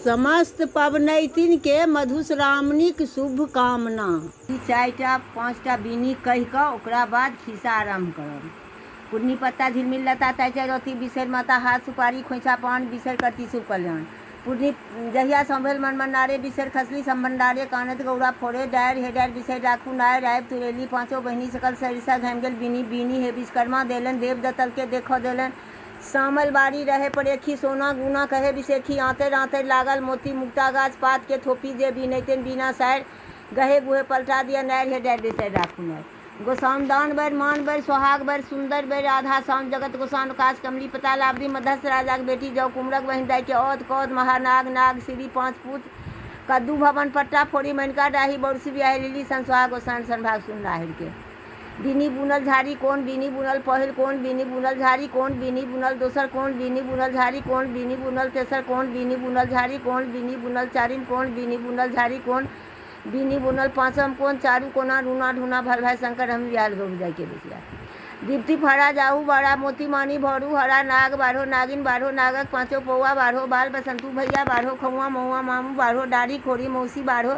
समस्त पबनैतिन केँ मधुश्रावणीक शुभकामना। ई चारिटा पाँचटा बीनी कहि कऽ ओकरा बाद खिस्सा आरम्भ करब। कुढ़नी पत्ता झिलमिल लता ताहिसँ रहथि बिसरि माता हाथ सुपारी खोंइछा पान बिसरि करती शुभ कल्याण। कुढ़नी जहिया सँ भेल मनमनारे बिसरि खसली समभण्डारे कानैत गौरा फोड़े डारि हे डारि बिसरि राखू नारि आबि तुड़ेली पाँचो बहिनी सकल सरिसा घमि गेल बीनी बीनी हे विश्वकर्मा देलनि देव दत्तलकेँ देखऽ देलनि सामल बारी रहै परेखी सोना गुना कहै बिसेखी आँतरि आँतरि लागल मोती मुक्ता गाछ पात के थोपी जे बीनैतेन बीना सारि गहे गुहे पलटा दिअ नारि हे डारि बेसरि राखू नारि गोसाउन दान बारि मान बारि सोहाग बारि सुन्दरि बारि आधा साउन जगत गोसाउन अकास कमली पताल आबदी मध्यस्थ राजाक बेटी जौ कुमरक बहिन दाइ के औध कौध महानाग नाग सिरी पाँच पूत कद्दू भवन पट्टा फोड़ी मैनका डाही बौरसी बिआहि लिली सन सोहाग गोसाउन सन भाग सुन नाहिर के। बीनी बुनल झाड़ी कोन बीनी बुनल पहिल कोन बीनी बुनल झाड़ी कोन बीनी बुनल दोसर कोन बीनी बुनल झाड़ी कोन बीनी बुनल तेसर कोन बीनी बुनल झाड़ी कोन बीनी बुनल चारिम कोन बीनी बुनल झाड़ी कोन बीनी बुनल पाँचम कोन चारू कोना रूना ढूना भर भाई शंकर हम याद गो जाय के बेसिया दीप्ति फड़ा जाहू बाड़ा मोती मानी भरू हरा नाग बाढ़ो नागिन बाढ़ो नागक पाँचो पौआ बाढ़ो बाल बसंतू भैया बाढ़ो खौआ मौआ मामू बाढ़ो डाढ़ी खोरी मौसी बाढ़ो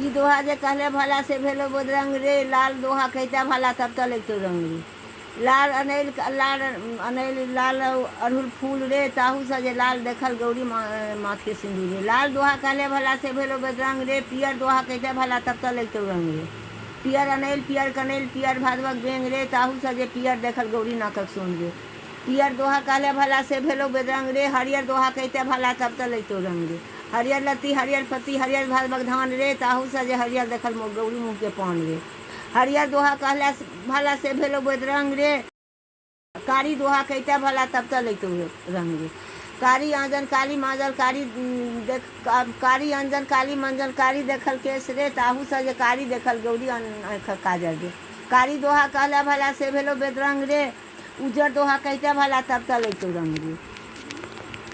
ई दोहा जे कहले भला से भेलो बोदरंग रे लाल दोहा कहते भला तब तो लगतो रंग रे लाल अनैल लाल अनैल लाल अड़हुल फूल रे ताहू से जे लाल देखल गौरी माथ के सिंदूर रे लाल दोहा कहले भला से भेलो बदरंग रे पियर दोहा कहते भला तब तो लगतो रंग रे पियर अनैल पियर कनैल पियर भादवक बेंग रे ताहू से जे पियर देखल गौरी नाकक सोन रे पियर दोहा कहले भला से भेलो बदरंग रे हरियर दोहा कहते भला तब तो लगतो रंग रे हरियर लत्ती हरियर पत्ती हरियर भैल बगधान रे ताहू सँ जे हरियर देखल मौग गौरी मुँह के पान रे हरियर दोहा कहला सँ भला से भेलौ बैदरंग रे कारी दोहा कहितै भला तब तऽ लैतौ रंग रे कारी आँजन काली माँजल कारी देख कारी अंजन काली मंजन कारी देखल केश रे ताहू सँ जे कारी देखल गौरी आँखक काजर रे कारी दोहा कहला भला से भेलौ बैदरंग रे उजर दोहा कहिते भला तब तल अयतौ रंग रे।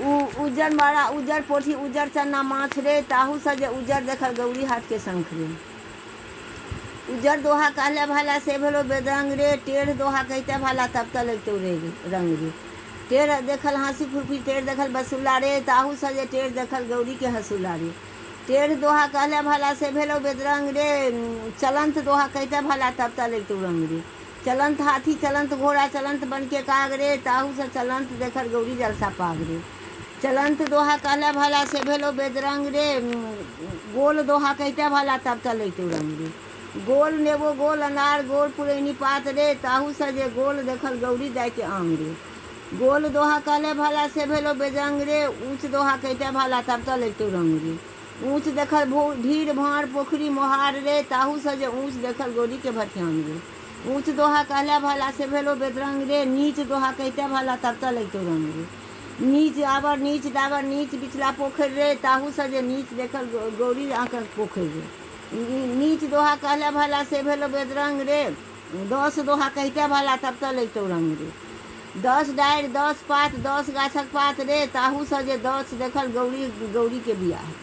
उ उजर मरा, उजर पोठी, उजर चन्ना माछ रे, ताहू सँ जे उजर देखल गौरी हाट के शंख रे। उजर दोहा कहले भला से भेलौ बेदरंग रे, टेढ़ दोहा कहिते भला तब तल अयतौ रे रंग रे। टेढ़ देखल हांसी खुरपी, टेढ़ देखल बसुला रे, ताहू सँ जे टेढ़ देखल गौरी के हंसुला रे। टेढ़ दोहा कहले भला से भेलौ बेदरंग रे, चलंत दोहा कहिते भला तब तल अयतौ रंग रे। चलंत हाथी चलंत घोड़ा चलंत बन के काग रे ताहू सँ चलंत देखर गौरी जलसा पाग रे चलंत दोहा कहला भला से भेलो बेदरंग रे गोल दोहा कहिता भला तब चलैतो रंग रे गोल नेबो गोल अनार गोल पुरैनी पात रे ताहू सँ जे गोल देखल गौरी दाय के आंग रे गोल दोहा कहला भला से भेलो बेदरंग रे ऊंच दोहा कहिता भला तब चलैतो रंग रे। ऊँच देखल भीड़-भाँड़ पोखरि मोहार रे, ताहू सँ जे ऊँच देखल गौरी के भठियान रे। ऊँच दोहा कहला भला से भेलौ बेदरंग रे, नीच दोहा कहितै भला तब तँ लगितौ रंग रे। नीच आबर नीच डाबर नीच बिचला पोखरि रे, ताहू सँ जे नीच देखल गौरी आँकक पोखरि रे। नीच दोहा कहला भला से भेलौ बेदरंग रे। दस दोहा कहिते भला तब तँ लैतौं रंग रे। दस डारि दस पात दस गाछक पात रे। ताहू सँ जे दस देखल गौरी गौरीकेँ बिआह रे।